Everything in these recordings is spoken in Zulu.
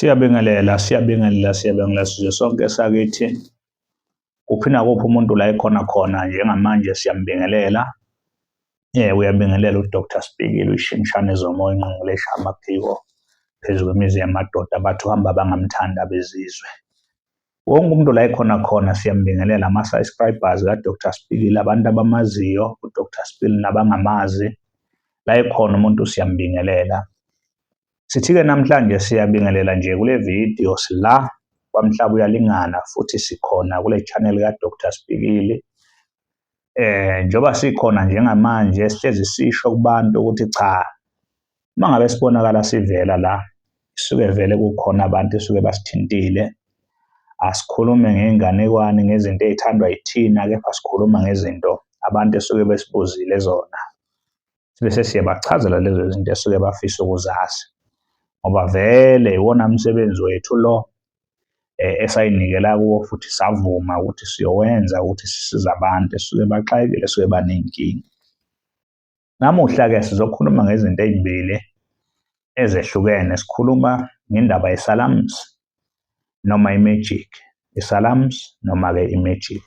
Siyabingelela, siyabingelela, siyabingelela sizwe sonke sakithi. Kuphi nakuphi umuntu la ekhona khona njengamanje siyambingelela. Eh uyabingelela uDr Sibhekile uyishimshane zomoya inqungulesha amaphiko phezu kwemizi yamadoda bathi uhamba bangamthanda bezizwe. Wonke umuntu la ekhona khona siyambingelela ama subscribers ka Dr Sibhekile abantu abamaziyo uDr Sibhekile nabangamazi la ekhona umuntu siyambingelela. Sithike namhlanje siyabingelela nje kule video sila kwamhlaba uyalingana futhi sikhona kule channel ka Dr Sibhekile eh njengoba sikhona njengamanje sihlezi sisho kubantu ukuthi cha uma ngabe sibonakala sivela la suke vele kukhona abantu esuke basithintile asikhulume ngey'nganekwane ngezinto ey'thandwa yithina kepha sikhuluma ngezinto abantu esuke besibuzile zona sibe sesiyabachazela lezo zinto esuke bafisa ukuzazi ngoba vele iwona msebenzi wethu lo eh, esayinikela kuwo futhi savuma ukuthi siyowenza ukuthi sisiza abantu esuke baxakile esuke banenkinga namuhla-ke sizokhuluma ngezinto ezimbili ezehlukene sikhuluma ngendaba yesalams noma imagic isalams noma-ke imagic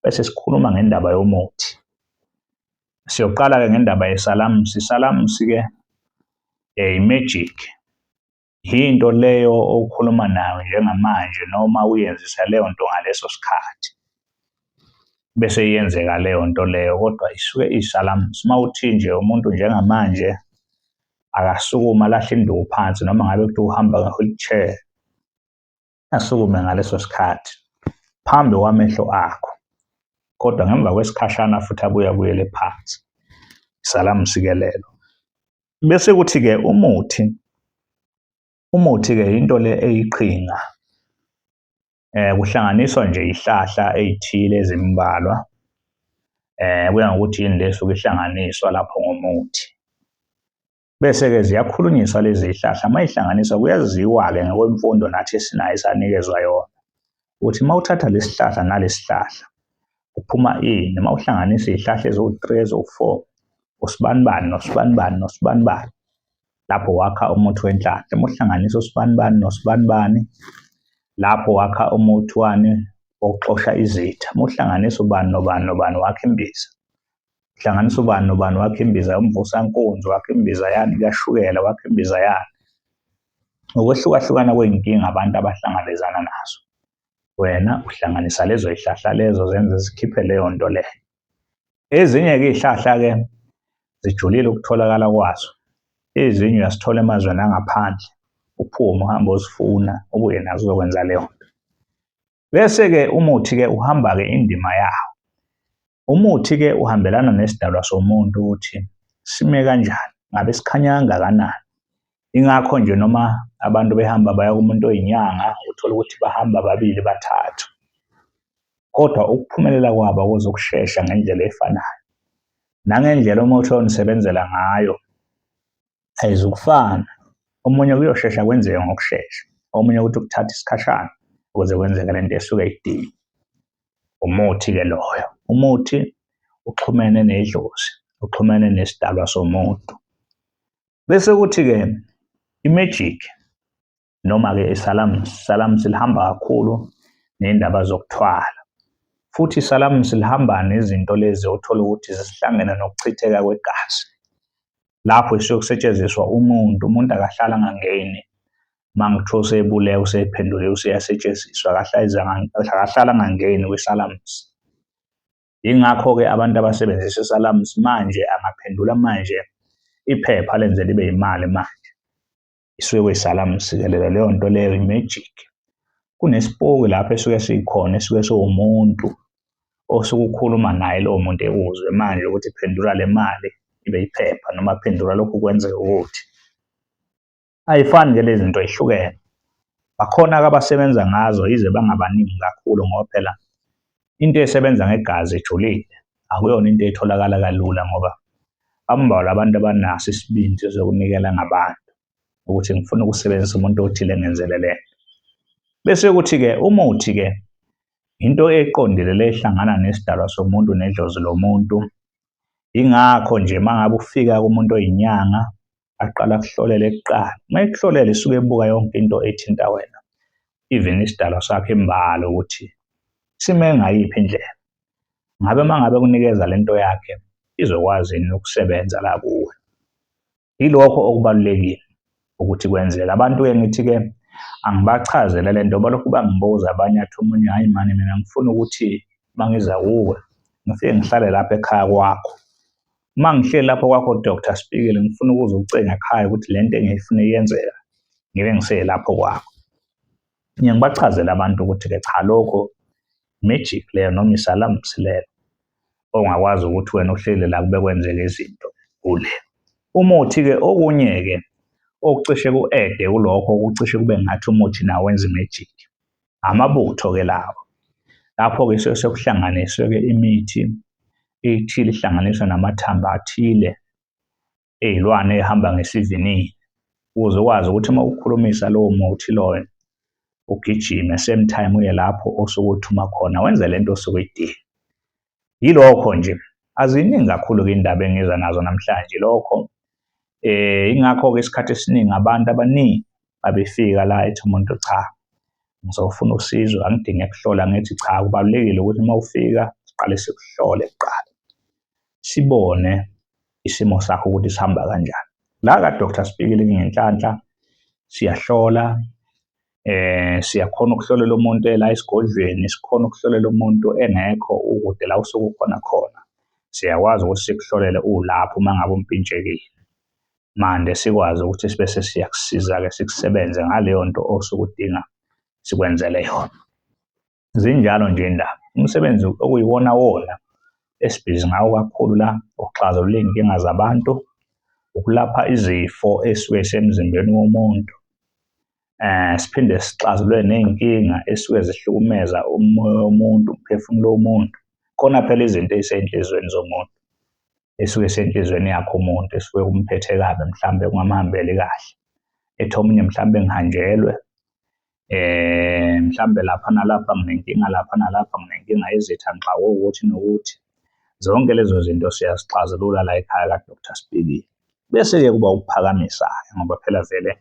bese sikhuluma ngendaba yomuthi Siyoqala-ke ngendaba yesalamusi. Isalamusi-ke um i-magic. Yinto leyo okhuluma nayo njengamanje noma uyenzisa leyo nto ngaleso sikhathi. Bese iyenzeka leyo nto leyo kodwa isuke iyisalamusi. Uma uthi nje umuntu njengamanje akasukuma alahle induku phansi noma ngabe kuthiwa uhamba nge-wheelchair, asukume ngaleso sikhathi phambi kwamehlo akho, kodwa ngemva kwesikhashana futhi abuye abuyele phansi. Salamsikelelo. Bese kuthi-ke umuthi, umuthi-ke yinto le eyiqhinga eh kuhlanganiswa nje ihlahla ezithile ezimbalwa eh kuya ngokuthi yini lesuke ihlanganiswa lapho ngomuthi Bese-ke ziyakhulunyiswa lezi zihlahla uma ihlanganiswa kuyaziwa-ke ngokwemfundo nathi esinayo esanikezwa yona ukuthi uma uthatha lesi hlahla nalesi hlahla kuphuma ini uma uhlanganisa izihlahla eziwu-three eziwu-four usibanibani nosibanibani nosibanibani lapho wakha umuthi wenhlanhla uma uhlanganisa usibanibani nosibanibani lapho wakha umuthi wani wokuxosha izitha uma uhlanganisa ubani nobani nobani wakha imbiza hlanganisa ubani nobani wakhe imbiza yomvusankunzi wakhe imbiza yani kashukela wakhe imbiza yani ngokwehlukahlukana kwey'nkinga abantu abahlangabezana nazo wena uhlanganisa lezo y'hlahla lezo zenze zikhiphe leyo nto leyo ezinye-ke iy'hlahla-ke zijulile ukutholakala kwazo ezinye uyazithola emazweni angaphandle uphume uhambe ozifuna ubuye nazo uzokwenza leyo nto Bese-ke umuthi-ke uhamba-ke indima yawo. Umuthi-ke uhambelana nesidalwa somuntu ukuthi sime kanjani, ngabe sikhanya kangakanani. Ingakho nje noma abantu behamba baya kumuntu oyinyanga, uthole ukuthi bahamba babili bathathu. Kodwa ukuphumelela kwabo kuzokushesha ngendlela efanayo. Nangendlela umuthi onisebenzela ngayo ayizukufana. Omunye kuyoshesha kwenzeke ngokushesha, omunye ukuthi kuthatha isikhashana ukuze kwenzeke le nto esuke idinga. Umuthi-ke loyo. Umuthi uxhumene nedlozi, uxhumene nesidalwa somuntu. Bese kuthi-ke i-magic Noma-ke iSalamus, iSalamus lihamba kakhulu ney'ndaba zokuthwala. Futhi iSalamus lihamba nezinto lezi othola ukuthi zisihlangene nokuchitheka kwegazi. Lapho isuke kusetshenziswa umuntu, umuntu akahlala angangeni uma ngithiwa usebulewe usephenduliwe useyasetshenziswa akahlala angangeni kwiSalamus. Yingakho-ke abantu abasebenzisa iSalamus manje angaphendula manje iphepha lenze libe yimali manje. isuke kuyisala msikelelo leyo nto leyo i-magic kunesipoki lapho esuke sikhona esuke siwumuntu osuke ukhuluma naye lowo muntu ekuzwe manje ukuthi phendula le mali ibe iphepha noma phendula lokhu kwenzeka ukuthi ayifani ke lezi zinto ehlukene bakhona-ke abasebenza ngazo yize bangabaningi kakhulu ngoba phela into esebenza ngegazi ejulile akuyona into etholakala kalula ngoba bambalwa abantu abanaso isibindi sokunikela ngabantu ukuthi ngifuna ukusebenzisa umuntu othile ngenzele le bese kuthi-ke umuthi-ke into eqondile le ehlangana nesidalwa somuntu nedlozi lomuntu ingakho nje uma ngabe ufika kumuntu oyinyanga aqala kuhlolele kuqala uma ekuhlolele suke ebuka yonke into ethinta wena even isidalwa sakhe imbala ukuthi sime ngayiphi indlela ngabe uma ngabe kunikeza le nto yakhe izokwazi yini ukusebenza la kuwe yilokho okubalulekile ukuthi kwenzeka abantu-ke ngithi-ke angibachazele le nto balokhu bangibuza abanye athi omunye hhayi mani mina ngifuna ukuthi uma ngiza kuwe ngifike ngihlale lapha ekhaya kwakho Uma ngihleli lapho kwakho Dr. Spikili ngifuna ukuze ucinga ekhaya ukuthi le nto engiyifuna iyenzeka ngibe ngiselapho kwakho. Ngiye ngibachazele abantu ukuthi-ke cha lokho magic leyo noma isalamsi leyo ongakwazi ukuthi wena uhleli la kube kwenzeka izinto kule. Umuthi-ke okunye-ke okucishe ku-ede kulokho okucishe kube ngathi umuthi nawo wenza imejiki. amabutho-ke lawo lapho-ke suke sekuhlanganiswe-ke imithi ethile ihlanganiswa namathambo athile ey'lwane ehamba ngesivinini ukuze ukwazi ukuthi uma ukhulumisa lowo muthi loyo ugijime same time uye lapho osuke uthuma khona wenze le nto osuke idinga Yilokho nje. Aziningi kakhulu-ke indaba engiza nazo namhlanje lokho. Eh ingakho-ke isikhathi esiningi abantu abaningi babefika la ethi umuntu cha ngizofuna usizo angidinge kuhlola ngithi cha kubalulekile ukuthi uma ufika siqale sikuhlole kuqala sibone isimo sakho ukuthi sihamba kanjani la ka Dr Sibikile ngenhlanhla siyahlola eh siyakhona ukuhlolela umuntu ela esigodlweni sikhona ukuhlolela umuntu engekho ukude la usuku khona khona siyakwazi ukuthi sikuhlolele ulapho uma ngabe umpintshekile manje sikwazi ukuthi sibe sesiyakusiza-ke sikusebenze ngaleyo nto osuke udinga sikwenzele yona Zinjalo nje indaba. Umsebenzi okuyiwona wona esibhizi ngawo kakhulu la ukuxazulula iy'nkinga zabantu, ukulapha izifo esuke zisemzimbeni womuntu. Eh, siphinde sixazulule ney'nkinga esuke zihlukumeza umoya womuntu, umphefumulo womuntu. Khona phela izinto ey'sey'nhliziyweni zomuntu, esuke isenhliziyweni yakhe umuntu, esuke kumphethe kabi mhlawumbe kungamhambeli kahle. Ethi omunye mhlawumbe ngihanjelwe, eh mhlambe lapha nalapha nginenkinga lapha nalapha nginenkinga izitha ngixawe ukuthi nokuthi zonke lezo zinto siyazixazulula la ekhaya kaDr Sibili bese-ke kuba ukuphakamisa ngoba phela vele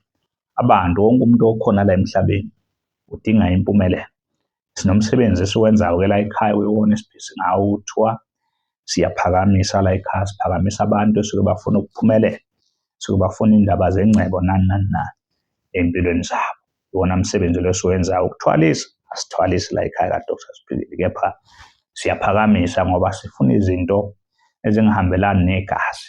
abantu wonke umuntu okhona la emhlabeni udinga impumelelo Sinomsebenzi esiwenzayo-ke la ekhaya kuyiwona esiphisi ngawo kuthiwa siyaphakamisa la ekhaya siphakamisa abantu esuke bafuna ukuphumelela suke bafuna indaba zengcebo nani nani nani empilweni zabo iwona msebenzi lo esiwenzayo ukuthwalisa asithwalisi la ekhaya kadr siphilile kepha siyaphakamisa ngoba sifuna izinto ezingahambelani negazi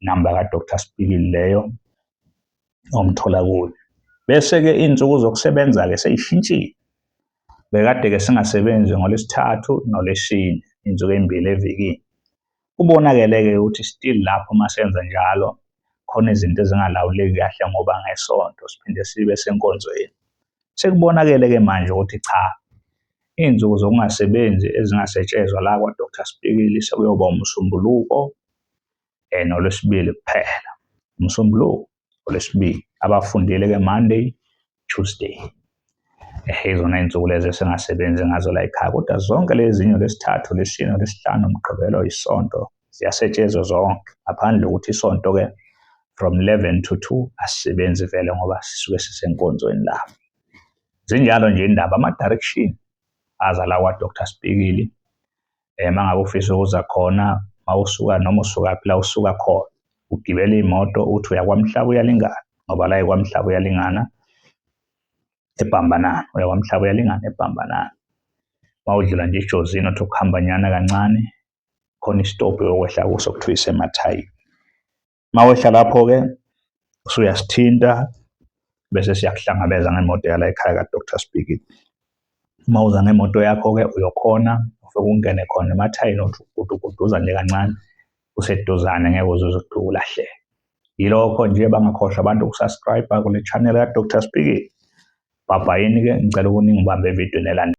namba ka Dr Sibhikili leyo omthola kuyo bese ke izinsuku zokusebenza ke seyishintshile bekade ke singasebenzi ngolesithathu nolesine insuku ezimbili evikini kubonakele ke ukuthi still lapho masenza njalo khona izinto ezingalawuleki kahle ngoba ngesonto siphinde sibe senkonzweni sekubonakele ke manje ukuthi cha izinsuku zokungasebenzi ezingasetshezwa la kwa Dr Sibhikili sekuyoba umsombuluko and olwesibili kuphela umsombuluko olwesibili abafundile ke monday tuesday ehe izona iy'nsuku lezi esingasebenzi ngazo la ekhaya kodwa zonke lezinye lesithathu lesine lesihlanu mgqibelo isonto ziyasetshezwa zonke ngaphandle ukuthi isonto-ke from 11 to 2 asisebenzi vele ngoba sisuke sisenkonzweni lapho zinjalo nje indaba ama-direction aza la kwadr spikili um uma ngabe ufisa ukuza khona uma usuka noma usukaphi la usuka khona ugibela iy'moto uthi uyakwamhlaba uyalingana ngoba la ikwamhlaba uyalingana ebhambanana uyakwamhlaba uyalingana ebhambanana uma udlula nje ijozini othi ukuhambanyana kancane khona isitobhi yokwehla kuso kuthiwa isemathayini mawehla lapho-ke usuyasithinta bese siyakuhlangabeza ngemoto yala ekhaya ka-dr speaking uma uza ngemoto yakho-ke uyokhona ufike ungene khona emathayini othi uguduguduza nje kancane useduzane ngeke uze uzokudluka ulahleke yilokho nje bangakhohlwa abantu ukusubscribe kule channel ka-dr speaking bhabhayini-ke ngicela ukuningi ubambe evidweni elandela